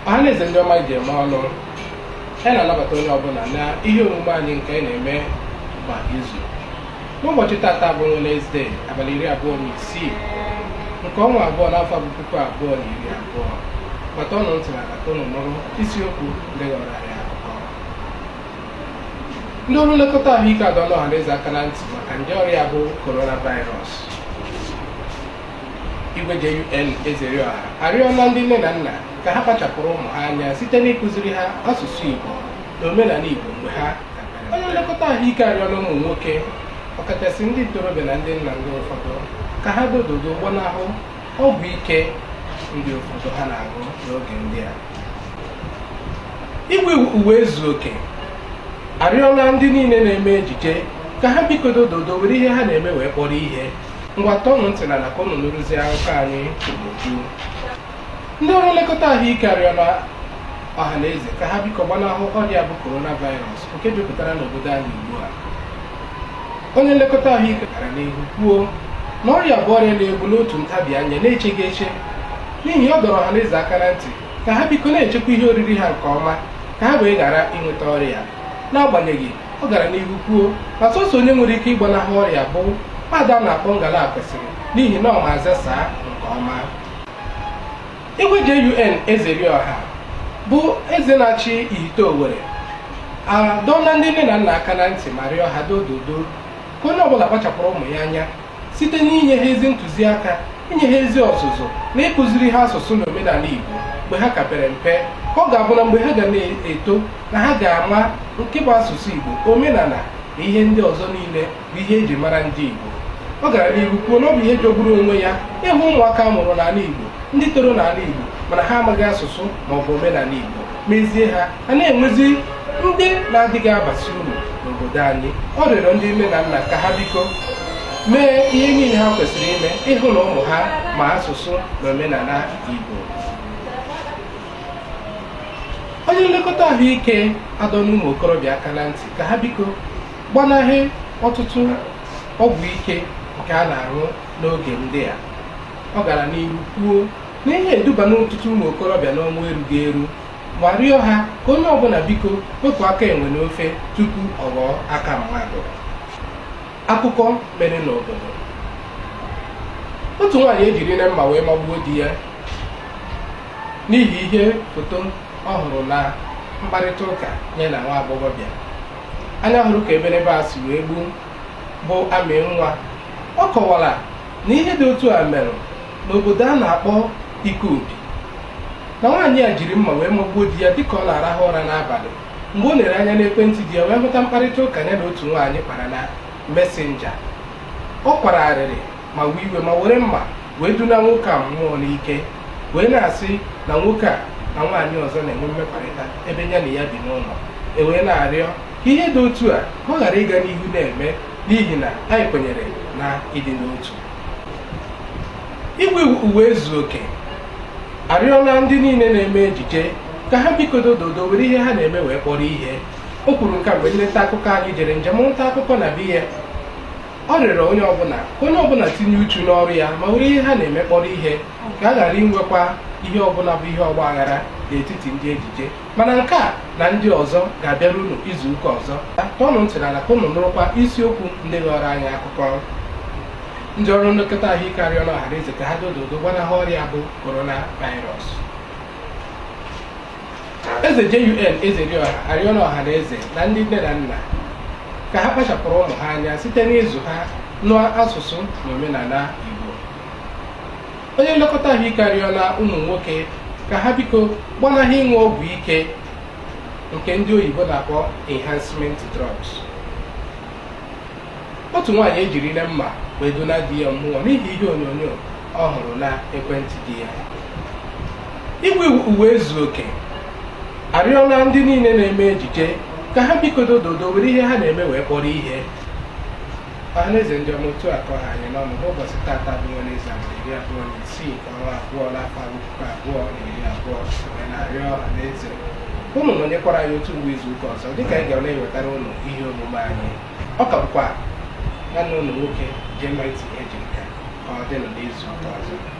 ọha na eze ndị ọma e ji eme ọnụ anyị na-anabata onye ọbụla na ihe omume anyị nke anyị na-eme kwa izu n'ụbọchị tata bụ Wenesde abalị iri abụọ na isii nke ọnwa abụọ n'afọ bụ puku abụọ na iri abụọ ngwa tọọnụ ntị n'ala ka ụnụ nụrụ isiokwu ndị ghọọrọ anyị akụkọ ndị ọrụ nlekọta ahụike adọọla ọhaneze aka na ntị maka nje ọrịa bụ coronavirus igwe JUN Ezerioha arịọla ndị nne na nna ka ha kpachapụrụ ụmụ ha anya site n'ịkụziri ha asụsụ Igbo na omenala Igbo mgbe ha ka pere onye nlekọta ahụike arịọla ụmụ nwoke ọkachasị ndị ntorobịa na ndị nna ndị ụfọdụ ka ha dododo gbanahụ ọgwụ ike ndị ụfọdụ ha na-aṅụ n'oge ndị a igwe Uwaezuoke arịọla ndị niile na-eme ejije ka ha biko dododo were ihe ha na-eme wee kpọrọ ihe ngwa tọọnụ ntị n'ala ka unu nụrụzie akụkọ anyị n'uju ndị ọrụ nlekọta ahụike arịọla ọha na eze ka ha biko gbanahụ ọrịa bụ coronavirus nke jupụtara n'obodo anyị ugbu a onye nlekọta ahụike gara n'ihu kwuo na ọrịa a bụ ọrịa na-egbu n'otu ntabi anya na-echeghị eche n'ihi ọ dọrọ ọhaneze aka na ntị ka ha biko na-echekwa ihe oriri ha nke ọma ka ha wee ghara inweta ọrịa n'agbanyeghị ọ gara n'ihu kwuo na sọsọ onye nwere ike ịgbanahụ ọrịa bụ nwaada a na-akpọ ngala kwesịrị n'ihi na ọ ma aza saa nke ọma Igwe JUN Ezerioha bụ eze na-achị Ihite Owere adọọla ndị nne na nna aka na ntị ma rịọ ha dododo ka onye ọbụla kpachapụrụ ụmụ ya anya site n'inye ha ezi ntụziaka inye ha ezi ọzụzụ na ịkụziri ha asụsụ na omenala Igbo mgbe ha ka pere mpe ka ọ ga-abụ na mgbe ha ga na-eto na ha ga-ama nke bụ asụsụ Igbo omenala na ihe ndị ọzọ niile bụ ihe e ji mara ndị Igbo ọ gara n'ihu kwuo na ọ bụ ihe jọgburu onwe ya ịhụ ụmụaka a mụrụ n'ala Igbo ndị toro n'ala Igbo mana ha amaghị asụsụ ma ọ bụ omenala Igbo mezie ha a na-enwezi ndị na-adịghị abazi uru n'obodo anyị ọ rịọrọ ndị nne na nna ka ha biko mee ihe niile ha kwesịrị ime ịhụ na ụmụ ha ma asụsụ na omenala Igbo onye nlekọta ahụike adọọla ụmụ okorobịa aka na ntị ka ha biko gbanahị ọtụtụ ọgwụ ike nke a na-aṅụ n'oge ndị a ọ gara n'ihu kwuo na ihe a edubala ọtụtụ ụmụ okorobịa n'ọnwụ erughị eru ma rịọ ha ka onye ọbụla biko wepụ aka enwe n'ofe tupu ọ ghọọ aka mmadụ akụkọ mere n'obodo otu nwaanyị ejirila mma wee magbuo di ya n'ihi ihe foto ọ hụrụ na mkparịta ụka ya na nwa agbọghọbịa anya hụrụ ka eberebe a si wee gbuo bụ amị nwa ọ kọwara na ihe dị otu a mere n'obodo a na-akpọ Ikobi na nwaanyị a jiri mma wee magbuo di ya dịka ọ na-arahụ ụra n'abalị mgbe o lere anya n'ekwentị di ya wee hụta mkparịta ụka ya na otu nwaanyị kpara na mesenja ọ kwara arịrị ma wee iwe ma were mma wee duna nwoke a mmụọ n'ike wee na-asị na nwoke a na nwaanyị ọzọ na-enwe mmekọrịta ebe ya na ya bi n'ụlọ e wee na-arịọ ka ihe dị otu a ka ọ ghara ịga n'ihu na-eme n'ihi na anyị kwenyere na ịdị n'otu Igwe Ụwaezuoke arịọla ndị niile na-eme ejije ka ha bikodo dodo were ihe ha na-eme wee kpọrọ ihe o kwuru nke a mgbe ndị nta akụkọ anyị jere njem nta akụkọ na be ya ọ rịọrọ onye ọbụla ka onye ọbụla tinye uchu n'ọrụ ya ma were ihe ha na-eme kpọrọ ihe ka a ghara inwekwa ihe ọbụla bụ ihe ọgba aghara n'etiti ndị ejije mana nke a na ndị ọzọ ga-abịara unu izu ụka ọzọ tọọnụ ntị n'ala ka unu nụrụkwa isiokwu ndị ghọrọ anyị akụkọ ndị ọrụ nlekọta ahụike arịọla ọhaneze ka ha dododo gbanahụ ọrịa bụ coronavirus Eze JUN Ezeriọha arịọla ọha na eze na ndị nne na nna ka ha kpachapụrụ ụmụ ha anya site n'ịzụ ha n'asụsụ na omenala Igbo. Onye nlekọta ahụike arịọla ụmụ nwoke ka ha biko gbanahụ ịṅụ ọgwụ ike nke ndị oyibo na-akpọ enhancement drugs. Otu nwaanyị ejirile mma wee duna di ya mmụọ n'ihi ihe onyonyo ọ hụrụ na ekwentị di ya. Igwe Ụwaezuoke arịọla ndị niile na-eme ejije ka ha bikodo dodo were ihe ha na-eme wee kpọrọ ihe ọhaneze ndị ọma otu a ka ọ ha anyị n'ọnụ n'ụbọchị tata bụ Wenezde abalị iri abụọ na isii nke ọnwa abụọ n'afọ puku abụọ na iri abụọ wee na-arịọ ọhaneze unu nọnyekwara anyị otu mgbe izu ụka ọzọ dịka anyị ga na-ewetara unu ihe omume anyị ọ ka bụkwa nwanne unu nwoke Jemity Ejimka ka ọ dịnụ n'izu ụka ọzọ